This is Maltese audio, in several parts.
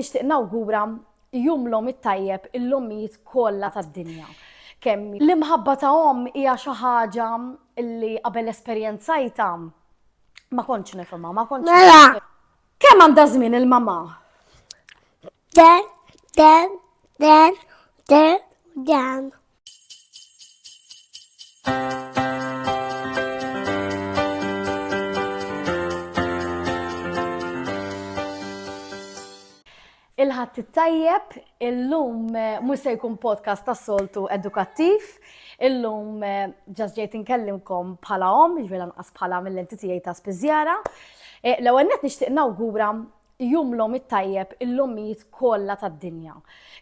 Nixtieq nawgura Jum l-Omm it-tajjeb lill-ommijiet kollha tad-dinja. Kemm l-imħabba ta' omm hija xi ħaġa li qabel esperjenzajtha ma kontx nifhimha, ma kontx Mela! Kemm għandha żmien il-mamà? Dan, dan, dan, dan, dan. Il-ħadd tajjeb, illum eh, mhux se jkun podcast ta' soltu edukattiv, illum eh, ġas ġejt inkellimkom bħala om, ġvela nqas bħala mill-enti tiegħi ta' spiżjara. Eh, l-ewwel nett nixtieq nawgura jumlhom it-tajjeb il-ommijiet kollha tad-dinja,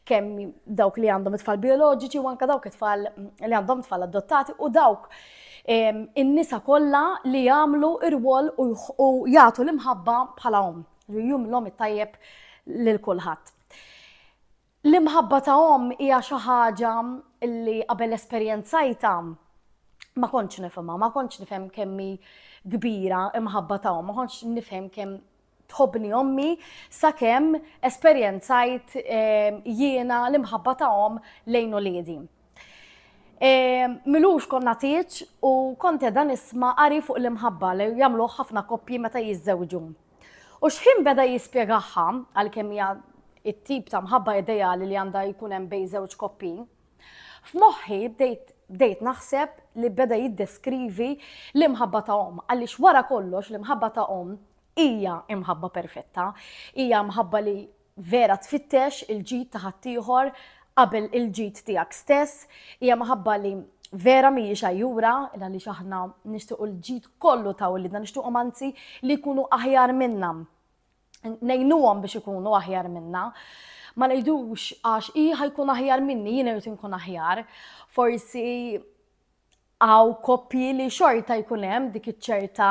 kemm dawk li għandhom it-tfal bioloġiċi u anke dawk it-tfal li għandhom tfal adottati u dawk in-nisa kollha li jagħmlu r-rwol u jagħtu l-imħabba bħala omm. Jumlhom it-tajjeb lil kulħadd. L-imħabba ta' omm hija xi ħaġa li qabel esperjenzajtha ma kontx nifhimha, ma kontx nifhem kemm hi kbira imħabba ta' omm, ma kontx nifhem kemm tħobbni ommi sakemm esperjenzajt ehm, jiena l-imħabba ta' omm lejn uliedi. Ehm, Milux konna tieċ u konte dan isma qari fuq l-imħabba li jagħmluh ħafna koppji meta jiżżewġu. U xħin beda jispjegahha, għalkemm hija it-tip ta' mħabba ideali li għandha jkun hemm bejn żewġ koppin, f'moħħi bdejt bdejt naħseb li beda jiddeskrivi l-imħabba ta' omm, għaliex wara kollox l-imħabba ta' omm hija imħabba perfetta, hija mħabba li vera tfittex il-ġid ta' ħaddieħor qabel il-ġid tiegħek stess, hija maħabba li vera mhijiex għajjura, il għaliex aħna nixtiequ l-ġid kollu ta' uliedna, nixtiequhom anzi li jkunu aħjar minna. Ngħinuhom biex ikunu aħjar minna. Ma ngħidux għax hi ħajkun aħjar minni, jien irid inkun aħjar. Forsi hawn koppji li xorta jkun hemm dik iċ-ċerta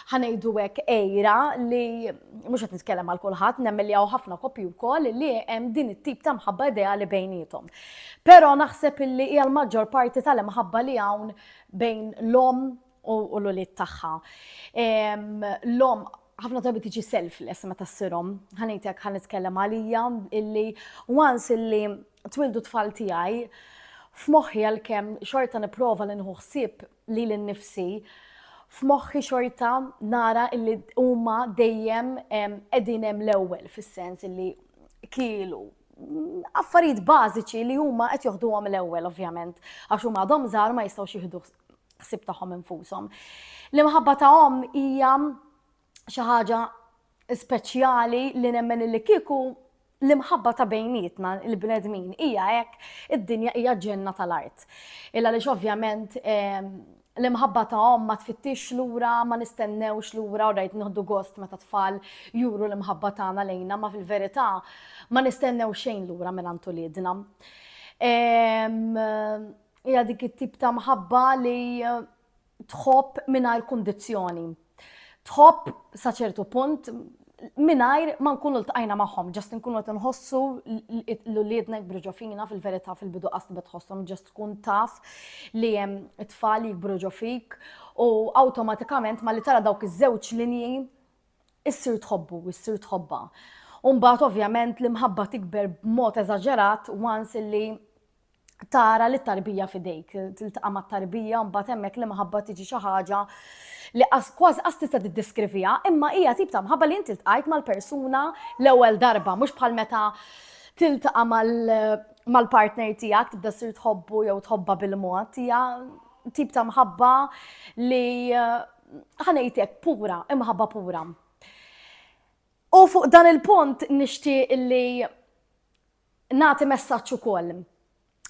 ħa ngħidu hekk għira li mhux qed nitkellem għal kulħadd, nemmen li hawn ħafna koppji wkoll li hemm din it-tip ta' mħabba ideali bejniethom. Però naħseb illi hija l-maġġor parti tal-imħabba li hawn bejn l-omm u l-ulied tagħha. Ehm, l-omm ħafna drabi tiġi selfless meta ssirhom. Ħanejtek ħan nitkellem għalija illi once illi twildu t-tfal tiegħi, f'moħħi għalkemm xorta nipprova li nieħu ħsieb lili nnifsi, f'moħħi xorta nara illi huma dejjem qegħdin hemm l-ewwel fis-sens illi kielu affarijiet bażiċi li huma qed joħduhom l-ewwel ovvjament għax huma għadhom żgħar ma jistgħux jieħdu ħsieb tagħhom infushom. L-imħabba ta' omm hija xi ħaġa speċjali li nemmen li kieku l-imħabba ta' bejnietna il-bnedmin hija hekk id-dinja hija ġenna tal-art. Illa li ovvjament ehm, l-imħabba ta' om ma tfittix lura, ma nistennewx lura, u rajt nħoddu gost meta tfal juru l-imħabba tagħna lejna, ma fil-verità ma nistennew xejn lura minn għandu lidna. Ehm, hija dik it-tip ta' mħabba li tħobb mingħajr kundizzjoni. Tħobb sa ċertu punt mingħajr ma nkunu ltqajna magħhom, ġast nkunu qed nħossu l-uliedna jikbru ġo fina fil-verità fil-bidu qas tibet tħossom ġast tkun taf li hemm it-tfal jikbru ġo fik u awtomatikament ma li tara dawk iż-żewġ linji issir tħobbu, issir tħobba. Umbat ovvjament l-imħabba tikber b'mod eżaġerat once li tara li tarbija fidejk, tiltaqa' mat-tarbija mbagħad hemmhekk li maħabba tiġi xi ħaġa li kważi qas tista' tiddeskriviha, imma hija tip ta' mħabba li inti ltqajt mal-persuna l-ewwel darba, mhux bħal meta tiltaqa' mal-partner tiegħek tibda ssir tħobbu jew tħobba bil-mod, hija tip ta' mħabba li ħanejtek pura, imħabba pura. U fuq dan il-punt nixtieq li Nagħti messaġġ ukoll.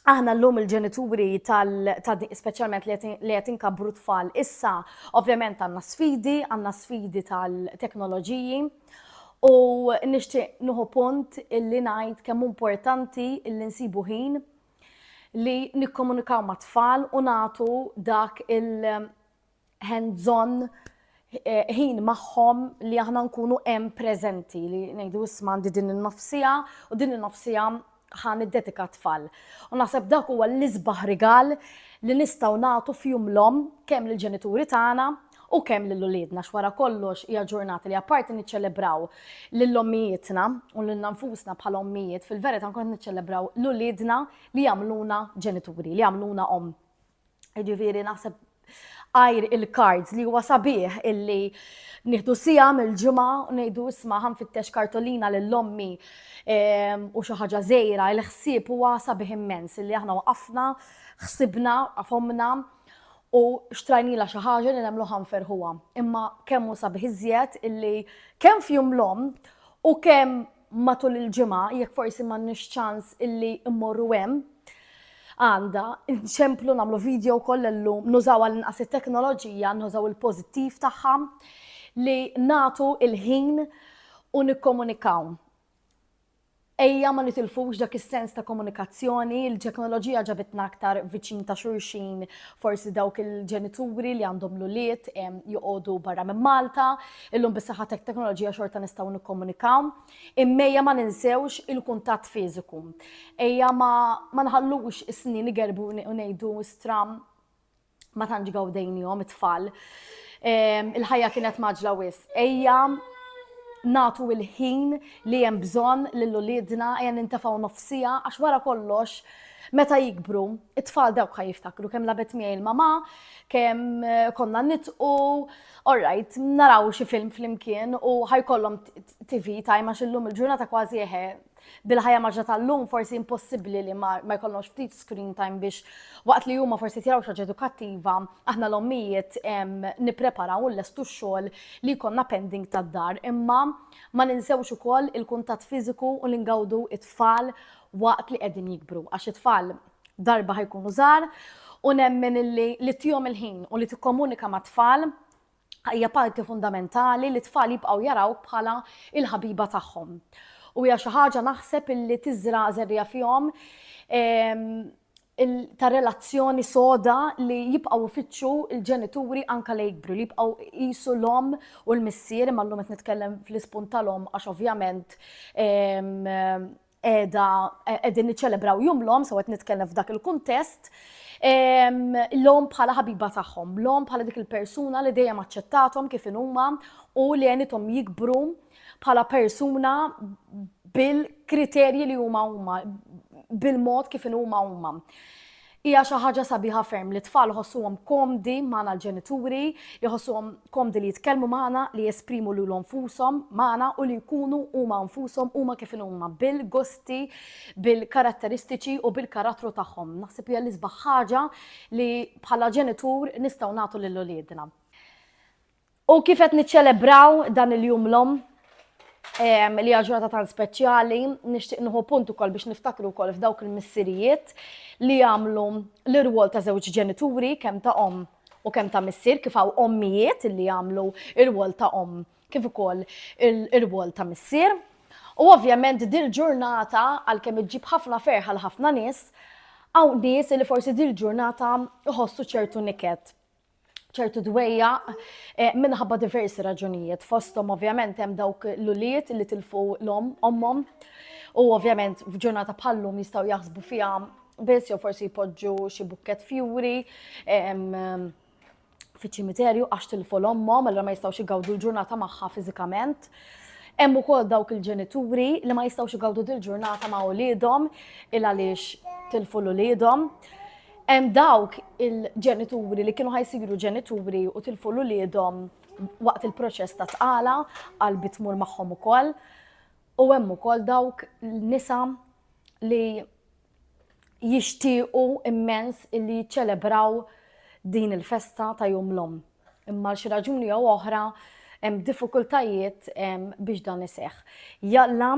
Aħna llum il-ġenituri tal, tal speċjalment li qed inkabbru tfal issa, ovvjament għandna sfidi, għandna sfidi tal-teknoloġiji, u nixtieq nuħu punt illi ngħid kemm importanti illi nsibu ħin li nikkomunikaw mat-tfal u nagħtu dak il- Hemm bżonn eh, ħin magħhom li aħna nkunu hemm preżenti li ngħidu isma' għandi din in-nofsija u din in-nofsija ħan id-dedika tfal. U naħseb dak huwa l-isbaħ rigal li nistgħu nagħtu fjum l-om kemm lill-ġenituri tagħna u kemm lil uliedna x'wara kollox hija ġurnata li apparti niċċelebraw lil ommijietna u lil nfusna bħala ommijiet fil-verità nkun niċċelebraw l-uliedna li jagħmluna ġenituri, li jagħmluna om. Ġifieri naħseb għajr il-cards li huwa sabiħ illi nieħdu sija mill-ġimgħa u ngħidu isma' ħanfittex kartolina lil ommi ehm, u xi ħaġa żejra il-ħsieb huwa sabiħ immens illi aħna waqafna, ħsibna, qafomna u xtrajnila xi ħaġa li nagħmlu ħanferħuha. Imma kemm hu sabiħ iżjed illi kemm fjum l-om u kemm matul il-ġimgħa jekk forsi m'għandniex ċans illi mmorru hemm għanda, nċemplu namlu video koll l-lum, nużaw għal-inqas il-teknoloġija, nużaw il-pozittiv taħħa, li natu il-ħin u nikkomunikaw. Ejja ma nitilfux dak is-sens ta' komunikazzjoni, il-teknoloġija ġabitna aktar viċin ta' xurxin, forsi dawk il-ġenituri li għandhom l-uliet joqogħdu barra minn Malta, Illum bis-saħħa tat-teknoloġija xorta nistgħu nikkomunikaw, imma ejja ma ninsewx il-kuntatt fiżiku. Ejja ma, ma nħallux is-snin igerbu u ngħidu stram ma tantx gawdejnihom it-tfal. Ehm, il-ħajja kienet maġla wis. Ejja natu il-ħin li hemm bżonn lil uliedna ejja nintefgħu nofsija għax wara kollox meta jikbru, it-tfal dawk ħaj jiftakru kemm labet miegħi l-mama, kemm eh, konna nitqu, All right, naraw xi film flimkien u ħajkollhom TV time għax illum il-ġurnata kważi eħe bil-ħajja maġġa tal-lum forsi impossibbli li ma jkollhomx ftit screen time biex waqt li huma forsi tiraw xaġa edukattiva, aħna l-ommijiet nippreparaw u lestu x-xogħol li jkollna pending tad-dar. Imma ma ninsewx ukoll il-kuntatt fiżiku u li ngawdu it-tfal waqt li qegħdin jikbru. Għax it-tfal darba ħajkunu żgħar u nemmen illi li tihom il-ħin u li tikkomunika mat-tfal hija parti fundamentali li t-tfal jibqgħu jarawk bħala il-ħabiba tagħhom. U hija xi ħaġa naħseb illi tiżra' żerriegħa fihom ehm, ta' relazzjoni soda li jibqgħu ifittxu l-ġenituri anka li jikbru, li jibqgħu qisu l-om u l-missier, imma llum qed nitkellem fl-ispun tal-om għax ovvjament ehm, qiegħda qegħdin niċċelebraw jum l-omm, so qed nitkellem f'dak il-kuntest, l-omm bħala ħabiba tagħhom, l-omm bħala dik il-persuna li dejjem aċċettathom kif inhuma u li għenithom jikbru bħala persuna bil-kriterji li huma huma, bil-mod kif inhuma huma. Hija xi ħaġa sabiħa ferm li t-tfal iħossuhom komdi magħna l-ġenituri, jħossuhom komdi li jitkellmu magħna, li jesprimu lilhom nfushom magħna u li jkunu huma nfushom, huma kif inhu huma bil-gusti, bil-karatteristiċi u bil-karattru tagħhom. Naħseb hija l-isbaħ ħaġa li bħala ġenitur nistgħu nagħtu lil uliedna. U kif qed niċċelebraw dan il-Jum l-Omm, li hija ġurnata tan speċjali, nixtieq nieħu punt ukoll biex niftakru wkoll f'dawk il-missirijiet li jagħmlu l-irwol ta' żewġ ġenituri kemm ta' omm u kemm ta' missier kif hawn ommijiet li jagħmlu l-irwol ta' omm kif ukoll l-irwol ta' missier. U ovvjament dil-ġurnata għalkemm iġġib ħafna ferħa l ħafna nies, hawn nies li forsi dil-ġurnata jħossu ċertu niket ċertu dwejja eh, minħabba diversi raġunijiet. Fostom ovvjament hemm dawk l-uliet li tilfu l-om, ommom, u ovvjament f'ġurnata bħallum jistaw jaħsbu fija biss jew forsi jpoġġu xi bukket fjuri fi ċimiterju għax tilfu l-ommom, allora ma jistawx igawdu l-ġurnata magħha fiżikament. Hemm ukoll dawk il-ġenituri li ma jistawx igawdu dil-ġurnata ma' uliedhom il għaliex tilfu l-uliedhom. Hemm dawk il-ġenituri li kienu ħajsiru ġenituri u tilfu l-uliedhom waqt il-proċess ta' tqala għal bitmur magħhom ukoll. U hemm ukoll dawk nisa li jixtiequ immens illi jiċċelebraw din il-festa ta' jum l-om. Imma xi raġuni jew oħra hemm diffikultajiet biex dan iseħħ. Jalla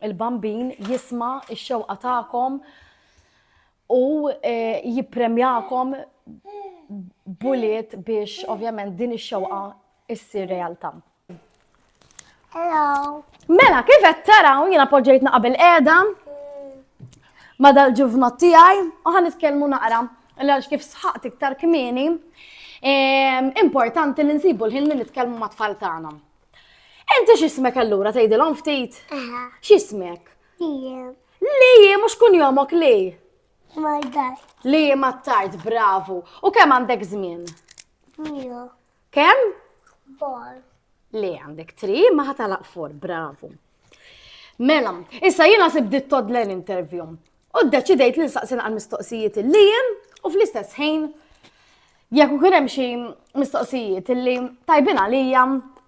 il-bambin jisma' x-xewqa tagħkom u eh, jippremjakom buliet biex ovvjament din ix-xewqa issir realtà. Hello. Mela, kif qed taraw jiena poġġejtna qabel qiegħda ma dal-ġuvnot tiegħi u ħan nitkellmu naqra għax kif sħaqt iktar kmieni importanti li nsibu l-ħin li nitkellmu ma' tfal tagħna. Inti x'ismek allura tgħidilhom ftit? X'ismek? Li mhux kun jomok li. Li ma tard, bravu. U kemm għandek żmien? Kemm? Bor. Li għandek tri, ma ħatalaq for, bravu. Mela, issa jiena sibdit todlen intervju. U d-deċidejt li nsaqsin għal mistoqsijiet li jem u fl-istess ħin jekk ukoll hemm xi mistoqsijiet li tajbin għalija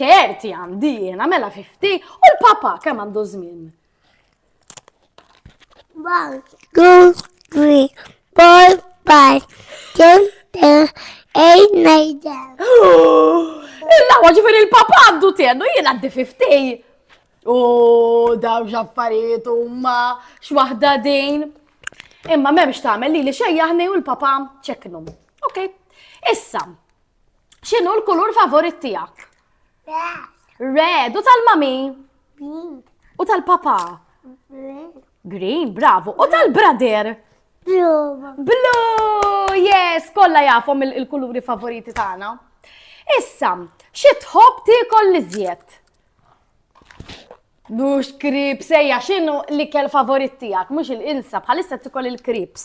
Terti għandi jiena mela 50 u l-papa kemm għandu żmien? One, two, three, four, five, ten, ten, eight, nine, ten. Illa ġifir il-papa għandu tennu jien għaddi 50. U daw ġaffariet u ma xwahda din. Imma memx tagħmel li li xejjaħni u l-papa ċeknu. Ok, issa, X'inhu l-kulur favorit tiegħek? Red. U tal-mami? Green. U tal-papa? Green. Green, bravo. U tal-brother? Blue. Blue, yes, kollha jafhom il-kuluri favoriti tagħna. Issa, xi tħobb tiekol li żjed? Mhux krips, ejja x'inhu l-ikel favorit tiegħek, mhux il-insa bħalissa tikol il-krips.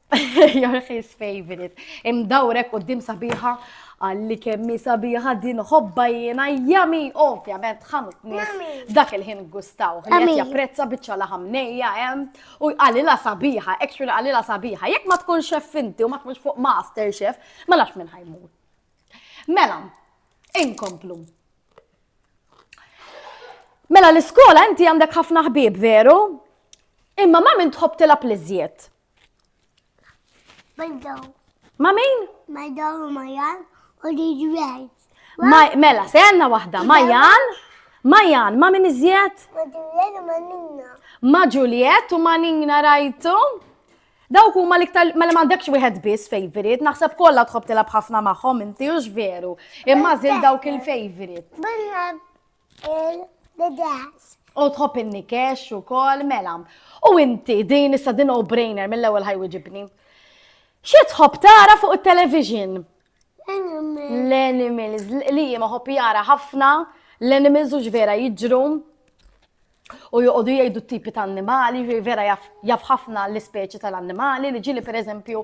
Jorħis favorite. Imdawrek qoddim sabiħa għalli kemmi sabiħa din ħobba jiena jami ovvjament ħamut nis dak il-ħin gustaw. Għet japprezza bieċa laħam nejja hemm u għalila sabiħa, actually għalila sabiħa. Jekk ma tkun xef inti u ma tkunx fuq master chef, ma nafx minn ħajmur. Mela, inkomplu. Mela l-iskola inti għandek ħafna ħbib veru? Imma ma minn tħobb tilab l-iżjed. Ma min? Ma daw u majan u li ġwejt. Mela, se għanna wahda, majan, majan, ma min iżjed? Ma ġuliet u ma ninna. Ma ġuliet u ma ninna rajtu? Dawk huma l-iktar mela m'għandekx wieħed biss favorite, naħseb kollha tħobb tilab ħafna magħhom inti hux veru. Imma żil dawk il-favorite. il-bidas. U tħobb in-nikex ukoll, mela. U inti din issa din brainer mill-ewwel ħajwiġibni. Xi tħobb tara fuq it-television? L-animals, li ma ħobb jara ħafna, l-animals u ġvera jiġru. u joqogħdu jgħidu t-tipi ta' annimali, vera jaf ħafna l-ispeċi tal-annimali, li ġili per eżempju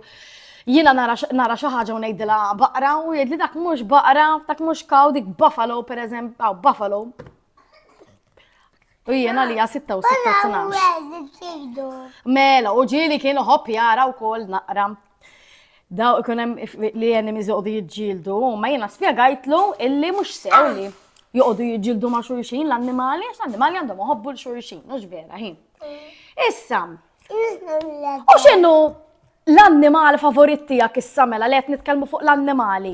jina nara xi ħaġa u ngħidilha baqra u jgħidli dak mhux baqra, dak mhux kaw, dik buffalo per eżempju, aw buffalo. U jiena li sitta u sitta tnax. Mela, u ġili kienu ħobb jara wkoll naqra Daw ikun hemm li enemies joqogħdu jiġġieldu, ma jiena spjegajtlu illi mhux sew li joqogħdu jiġġieldu ma' xulxin l-annimali, għax l-annimali għandhom iħobbu l-xulxin, mhux vera ħin. Issa, u x'inhu l-annimal favorit tiegħek issa mela li qed nitkellmu fuq l-annimali?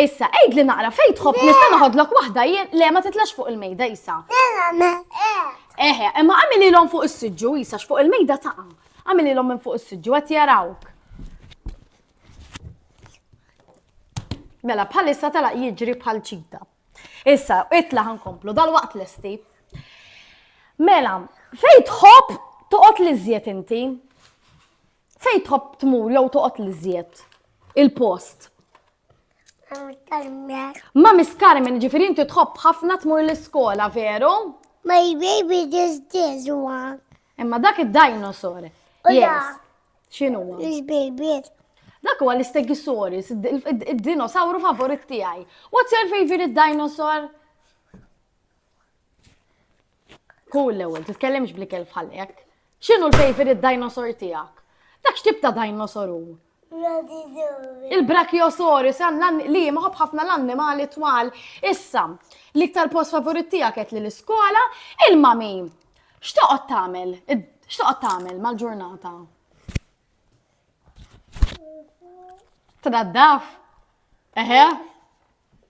Issa, għidli naqra fejn tħobb nista' noħodlok waħda jien, le ma titlax fuq il-mejda Isa. Eħe, imma għamililhom fuq is-siġġu Isa x'fuq il-mejda taqa'. Għamililhom minn fuq is-siġġu qed jarawk. Mela bħalissa talaq jiġri bħal ċita. Issa, itla ħankomplu dal-waqt lesti. Mela, fejn tħobb toqgħod li żjed inti? Fejn tħobb tmur jew toqgħod l-iżjed? Il-post. Ma miskar minn ġifieri inti tħobb ħafna tmur l-iskola, veru? My baby is this one. Imma dak id-dinosaur. Yes. X'inhu? This baby. Dak huwa l-Stegosaurus, id-dinosawru favorit tiegħi. What's your favorite dinosaur? Hu l-ewwel, titkellimx bl-ikel bħal hekk. X'inhu l-favorite dinosaur tiegħek? Dak x'tip ta' dinosaur hu? Il-Brachiosaurus għandna li maħob ħafna l-annimali twal. Issa, l-iktar post favorit tiegħek qed li l-iskola, il-mami x'toqgħod tagħmel? X'toqgħod tagħmel mal-ġurnata? Tnaddaf? Eħe?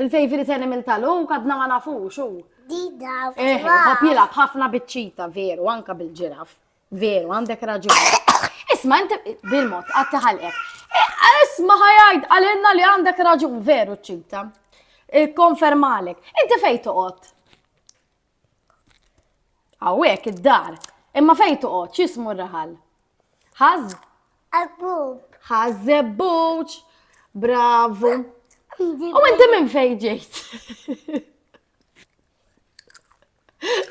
Il-favori t'animal tal u kadna ma nafux u. Dida. Eh, hop jilab ħafna biċċita, veru, anka bil-ġiraf. Veru, għandek raġun. Isma, inti bil-mod, għatti ħalqek. Eh, isma ħajajt, għalinna li għandek raġun, veru ċita. Konfermalek. Inti fej toqgħod? Hawnhekk id-dar. Imma fejn toqgħod x'ismu r-raħal? Ħaż? Abbub. Ħażebbuċ. Bravu. U inti minn fejn ġejt?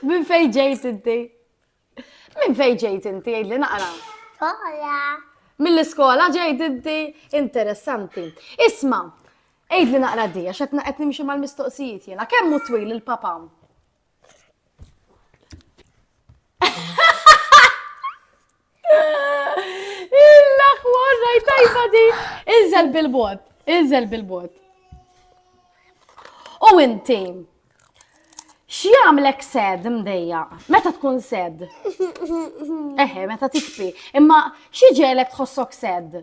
Minn fejn ġejt inti? Minn fejn ġejt inti jgħidli naqra? Skola. Mill-iskola ġejt inti interessanti. Isma, għidli naqra di, għax qed qed nimxi mal-mistoqsijiet jiena. Kemm hu twil il-papa? Illa ħwar rajt tajba di. Inżel bil-bot, inżel bil-bot. U inti, X'jagħmlek sad mdejja? Meta tkun sad? Eħe, meta tikfi. Imma xi ġelek tħossok sad?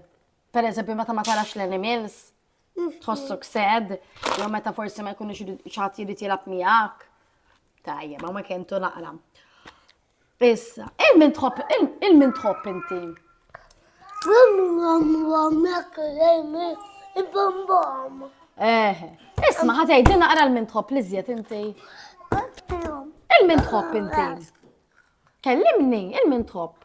Per eżempju, meta ma tarax l-animals? Tħossok sad? Jew meta forsi ma jkunux xaħat jrid jilab miegħek? Tajja, ma ma kentu naqra. Issa, il-min tħobb, il-min tħobb inti? Eh, isma ħatajt dina għara l-min tħobb li zjet inti. Il-min tħobb inti. Kellimni, il-min tħobb.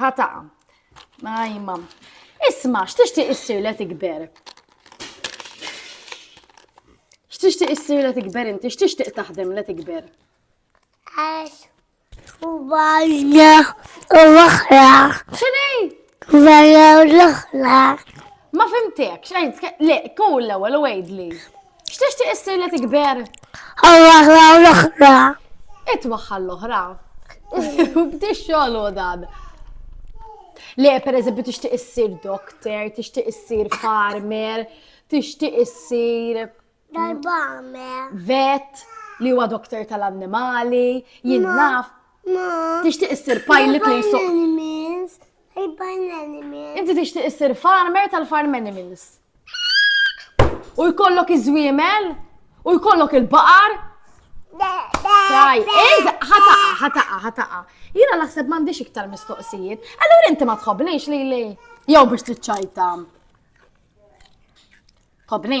Ħa taqa. Ajma. Isma, x'tixtieq issir li tikber? X'tixtieq issir li tikber inti? X'tixtieq taħdem li tikber? Għax u bajja u l-oħra. X'inhi? Bajja u l-oħra. Ma fimtek, x'għid? Le, kull l-ewwel u għidli. X'tixtieq issir li tikber? Għal-waħda u l-oħra. It waħħal l-oħra. Bdi xogħol u dan. Le, per eżempju, tixtieq issir doktor, tixtieq issir farmer, tixtieq issir Dal-bamer. vet li huwa doktor tal-annimali, jien naf. Ma. Tixtieq issir pilot li jsuq. Animals. Urban animals. Inti tixtieq issir farmer tal-farm animals. U jkollok iż-żwiemel? U jkollok il-baqar? Taj, eż, ħataqa, ħataqa, ħataqa. Jina naħseb m'għandix iktar mistoqsijiet. Allura inti ma tħobnix li li. Jew biex tiċċajta. Tħobni?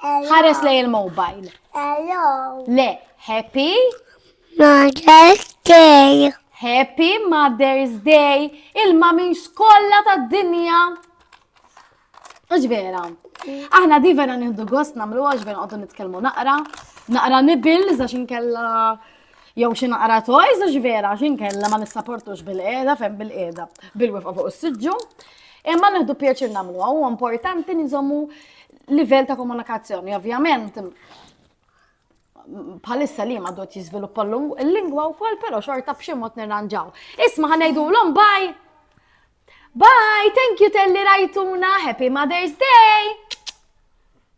Ħares lej il-mobile. Hello. Le, happy. Mother's Day. Happy Mother's Day. Il-mamin skolla ta' dinja. Uġ vera. Aħna di vera nieħdu gost namlu għax vera għoddu nitkellmu naqra. Naqra nibil, zax inkella Jew xi naqra toys għax vera xi nkella ma nissaportux bil-qiegħda fejn bil-qiegħda bil-wifqa fuq is-siġġu. Imma nieħdu pjaċir nagħmlu huwa importanti niżommu livell ta' komunikazzjoni. Ovvjament, bħalissa li ma dot jizviluppa l-lingwa u kol, pero xorta b'xi mod nirranġaw. Isma ħanejdu l-om, bye! Bye, thank you telli rajtuna, happy Mother's Day!